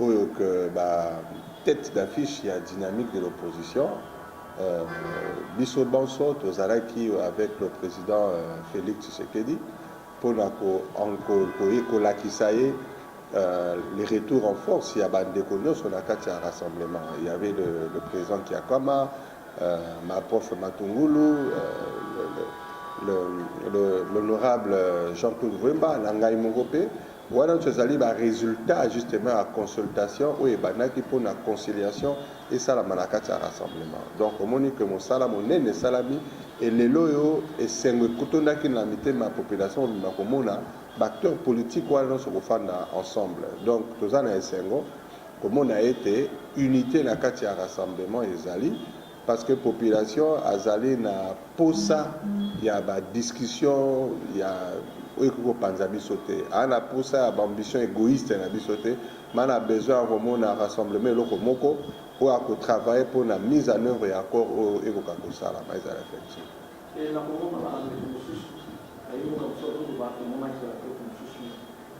oyo que ba tetes d'affiche ya dynamique de l'opposition biso banso tozalaki avec le president Felix Tshisekedi pona kolakisa ye le retour en force ya ba ndeko nionso na kati ya rassemblement il ya avait le president Kiakwama, ma prof Matungulu, l'honorable Jean-Claude Vuemba na ngai moko pe. Wana nionso ezali ba resultats justement ya consultation oyo ebandaki mpo na conciliation esalama na kati ya rassemblement. Donc omoni que mosala monene esalami et lelo oyo esengo ekotondaki na mitema ya population mobimba komona ba acteurs politiques wana nionso kofanda ensemble. Donc toza na esengo komona ete unite na kati ya rassemblement ezali. Parce que population azali na posa ya ba discussion ya oyo ekoki kopanza biso te. Aza na posa ya ba ambitions egoistes na biso te, mais na besoin ya komona rassemblement eloko moko oyo ako travailler mpo na mise en œuvre ya accord oyo ekoka kosalama ezala effective. Mpe nakomona na bandeko mosusu, nayebi moto mosusu akoki koloba, emonaki ya bandeko mosusu.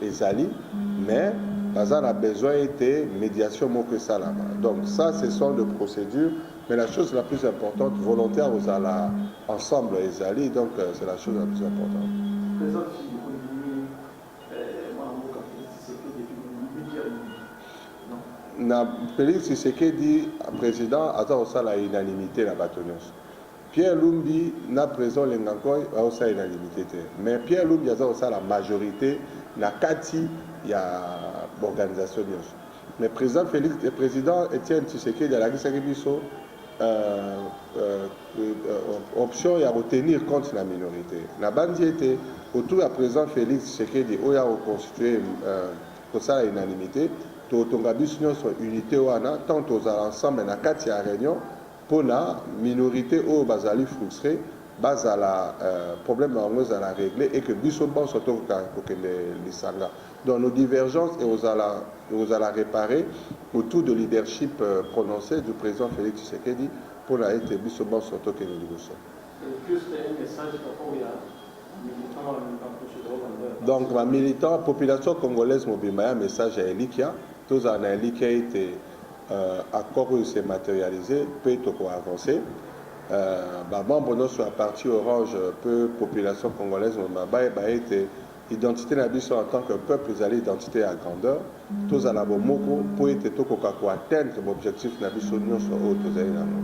ezali mais baza na besoin ete mediation moko esalama donc ça ce sont de procédure mais la chose la plus importante volonté ya kozala ensemble ezali donc euh, c'est la chose la plus importante na Félix Tshisekedi président aza kosala unanimité na bato nyonso Pierre lumbi na president lengankoy bazo salela l'unite te mais Pierre lumbi aza kosala majorite na kati ya b'organisation nionso mais president Felix president Etienne Tshisekedi alakisaki biso option ya ko tenir compte na minorite na banzi ete autour ya president Felix Tshisekedi oyo ako constituer kosala unanimite totonga biso nionso unite wana tant tozala ensemble na kati ya reunion mpo na minorite oyo bazali frustre bazala probleme na bango ezala regle et que biso banso tokoka kokende lisanga donc nos divergences ekozala ekozala repare autour de leadership prononce du president Felix Tshisekedi mpo na ete biso banso tokende liboso. Donc ba militants, population congolaise mobimba ya message ya elikya, tozala na elikya ete. Accord oyo se materialiser mpe toko avancer. Ba membres nionso ya parti orange mpe population congolaise mobimba bayeba ete identite na biso en tant que peuple ezali identite ya grandeur. Tozala bomoko mpo ete tokoka ko atteindre ba objectifs na biso nionso oyo tozali na yango.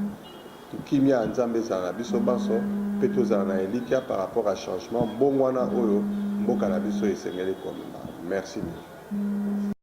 Kimia ya Nzambe ezala na biso banso mpe tozala na elikya par rapport ya changement, mbongwana oyo mboka na biso esengeli komema. Merci mingi.